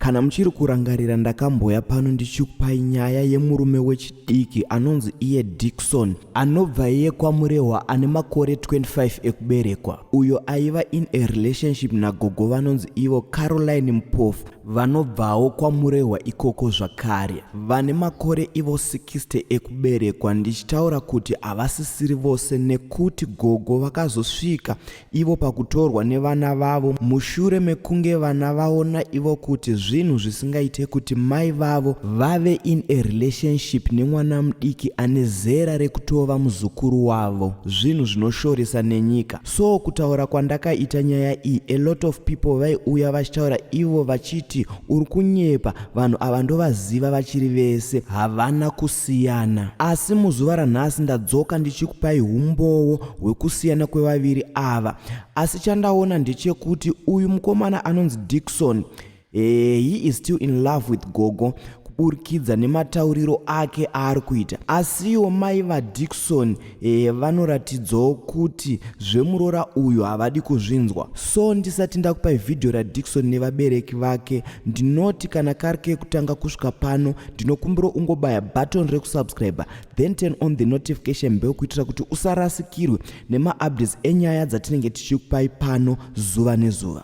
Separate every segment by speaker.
Speaker 1: Kana muchiri kurangarira ndakamboya pano ndichikupai nyaya yemurume wechidiki anonzi iye Dixon anobva iye kwaMurehwa ane makore 25 ekuberekwa uyo aiva in a relationship nagogo vanonzi ivo Caroline Mpofu vanobvawo kwaMurehwa ikoko zvakare vane makore ivo 60 ekuberekwa ndichitaura kuti havasisiri vose nekuti gogo vakazosvika ivo pakutorwa nevana vavo mushure mekunge vana vaona ivo kuti zvinhu zvisingaite kuti mai vavo vave in a relationship nemwana mudiki ane zera rekutova muzukuru wavo zvinhu zvinoshoresa nenyika so kutaura kwandakaita nyaya iyi a lot of people vaiuya vachitaura ivo vachiti uri kunyepa vanhu ava ndovaziva vachiri vese havana kus siyana asi muzuva ranhasi ndadzoka ndichikupai humbowo hwekusiyana kwevaviri ava asi chandaona ndechekuti uyu mukomana anonzi dikson eh, he is still in love with gogo kuburikidza nematauriro ake aari kuita asiwo mai vadikson E, vanoratidzawo kuti zvemuroora uyu havadi kuzvinzwa so ndisati ndakupai vhidhiyo radikson nevabereki vake ndinoti kana kari kekutanga kusvika pano ndinokumbira ungobaya button rekusubscribe then turn on the notification bell kuitira kuti usarasikirwe nemaupdates enyaya dzatinenge tichikupai pano zuva nezuva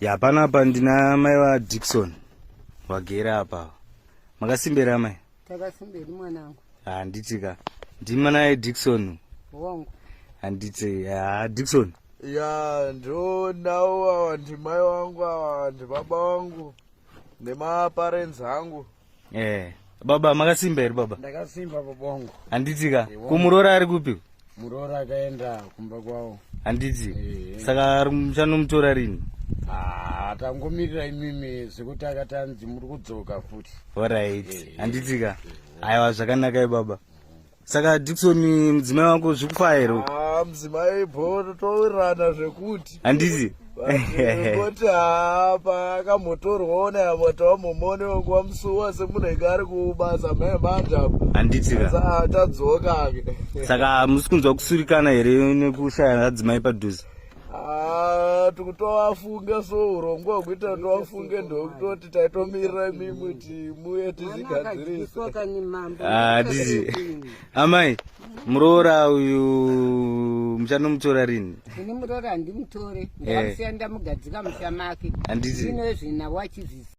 Speaker 2: ya pano apa ndina mai vadikson vagere apa makasimbira mai takasimberi mwanangu
Speaker 3: handiti ka
Speaker 2: ndimi naye dikson wangu
Speaker 3: handiti
Speaker 2: ha dikson ya
Speaker 4: ndionawo awa ndimai wangu awa ndibaba wangu nemaparents angu eh
Speaker 2: baba makasimba here baba ndakasimba bobongo
Speaker 4: handiti ka kumuroora
Speaker 2: ari kupi muroora akaenda
Speaker 4: kumba kwavo handiti eh.
Speaker 2: saka muchanomutora rini ah,
Speaker 4: tangomirira imimi zvekuti akati anzi muri kudzoka futi orit eh.
Speaker 2: handiti ka aiwa zvakanakai baba saka dikson mudzimai wako zvikufairo ah, mudzimai
Speaker 4: bho totowirirana zvekuti handizi
Speaker 2: koti
Speaker 4: haa paakambotorwawo nayamota wamomone wekuva musuwa semunhu ainge ari kubasa mae manje apo handitika
Speaker 2: tadzoka
Speaker 4: saka
Speaker 2: musi kunzwa kusurikana here nekushaya adzimai padhuze Ah, tikutovafunge
Speaker 4: so urongwa hwekuita kuti vafunge ndokutoti taitomirira imimi kuti muye tizvigadzirisadizi
Speaker 2: ah, amai muroora uyu muchanomutora rini ini muroora
Speaker 3: handimutore eh. ndaamusiya ndamugadzika musha make handizinoezvina wachizvisi